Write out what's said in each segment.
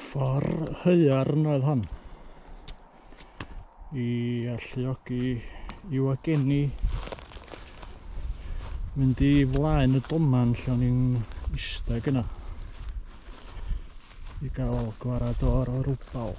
Ffor haearn oedd hon i alluogi i wagenni mynd i flaen y doman lle o'n i'n eistedd yna i gael gwarad o'r rwbal.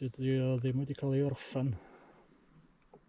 dydy o ddim wedi cael ei orffen.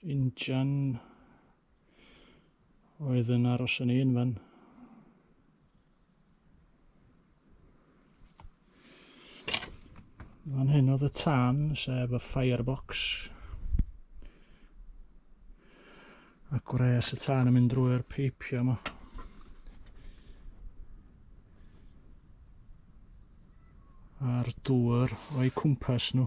Injan oedd yn aros yn un fan. Fan hyn oedd y tân, sef y firebox. A gwres y tân yn mynd drwy'r peipio yma. A'r dŵr o'i cwmpas nhw.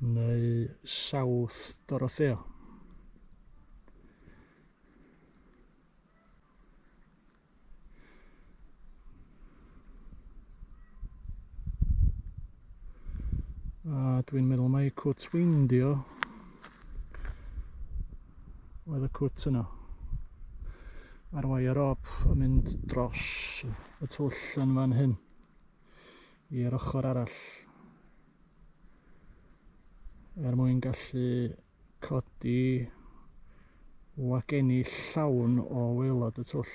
neu South Dorothea. A dwi'n meddwl mae cwt weindio oedd y cwt yno. Mae'r wire op yn mynd dros y twll yn fan hyn. i'r ochr arall er mwyn gallu codi wagenni llawn o waelod y twll.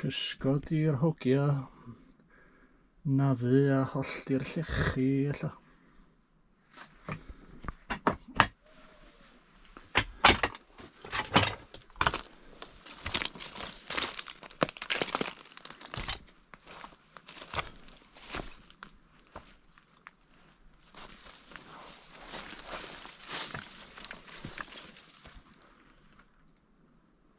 Cysgodi'r hogia, naddu a hollti'r llechi, ella.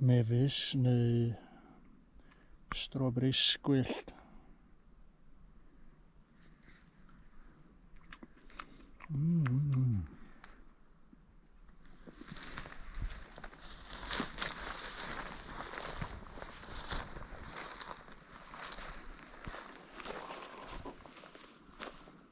mefus neu strobris gwyllt. Mm -hmm.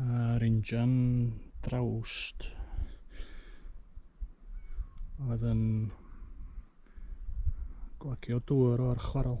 A'r injan drawst oedd yn gwagio dŵr o'r chwarel.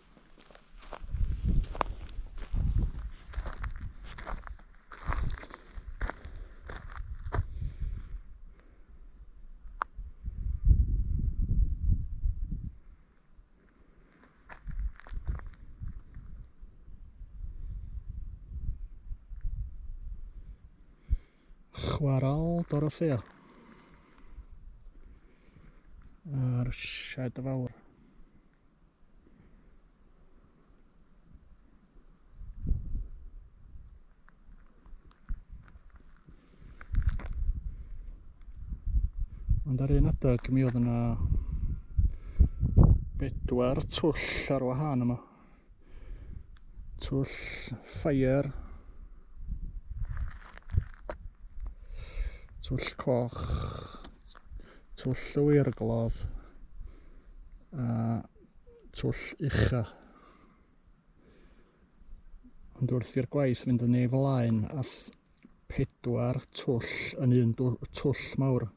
chwarael Dorothea a'r sied fawr. Ond ar un adeg mi oedd yna bedwar twll ar wahân yma. Twll ffair, twll coch, twll llwyr y glodd a twll ucha. Ond wrth i'r gwaith fynd yn ei flaen, all pedwar twll yn un twll mawr.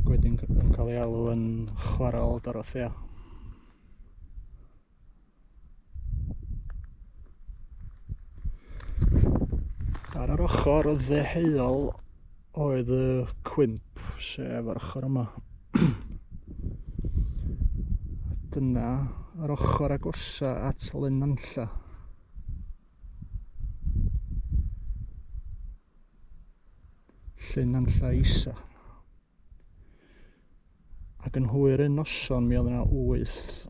Ac wedyn yn cael ei alw yn chwarael Dorothea. Ar yr ochr ddeheuol oedd y cwymp, sef ar ochr yma. Dyna yr ochr agosa at Lenanlla. Llenanlla Isa. Ac yn hwyr yn noson, mi oedd yna wyth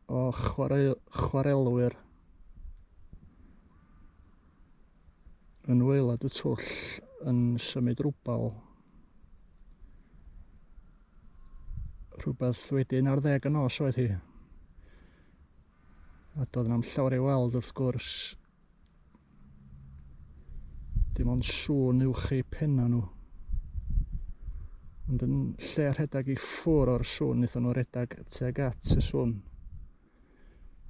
o chwarae, chwarelwyr yn waelod y twll yn symud rwbal. Rhywbeth wedi un ar ddeg y nos oedd hi. A doedd na'm llawer ei weld wrth gwrs Dim ond sŵn uwch eu penna nhw. Ond yn lle rhedeg i ffwr o'r sŵn, wnaethon nhw redeg tuag at y sŵn.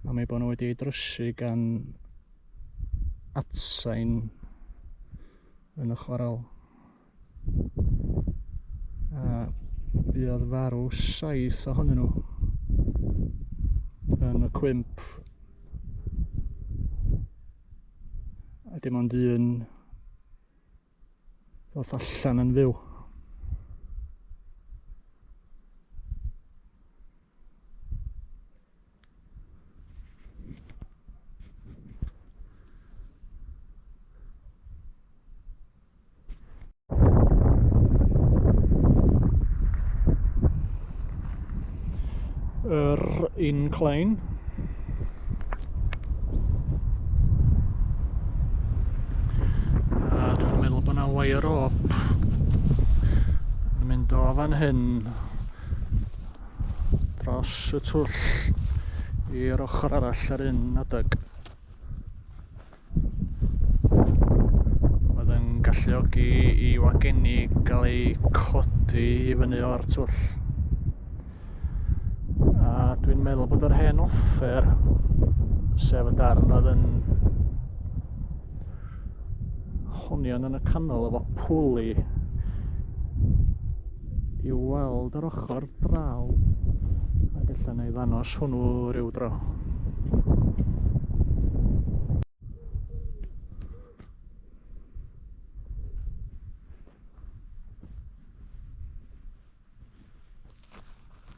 Am ei bod nhw wedi ei drysu gan atsain yn y chwarel. A buodd farw saith ohonyn nhw yn y cwymp. A dim ond un ddoth allan yn fyw. yr incline a dwi'n meddwl bod yna wire op yn mynd o fan hyn dros y twll i'r ochr arall yr un adeg. Oedd yn galluogi i wagenni gael ei codi i fyny o'r twll. A dwi'n meddwl bod yr hen offer, sef y darn oedd yn honion yn y canol efo pwli i weld yr ochr draw a gallwn ni ddanos hwnnw rhyw dro.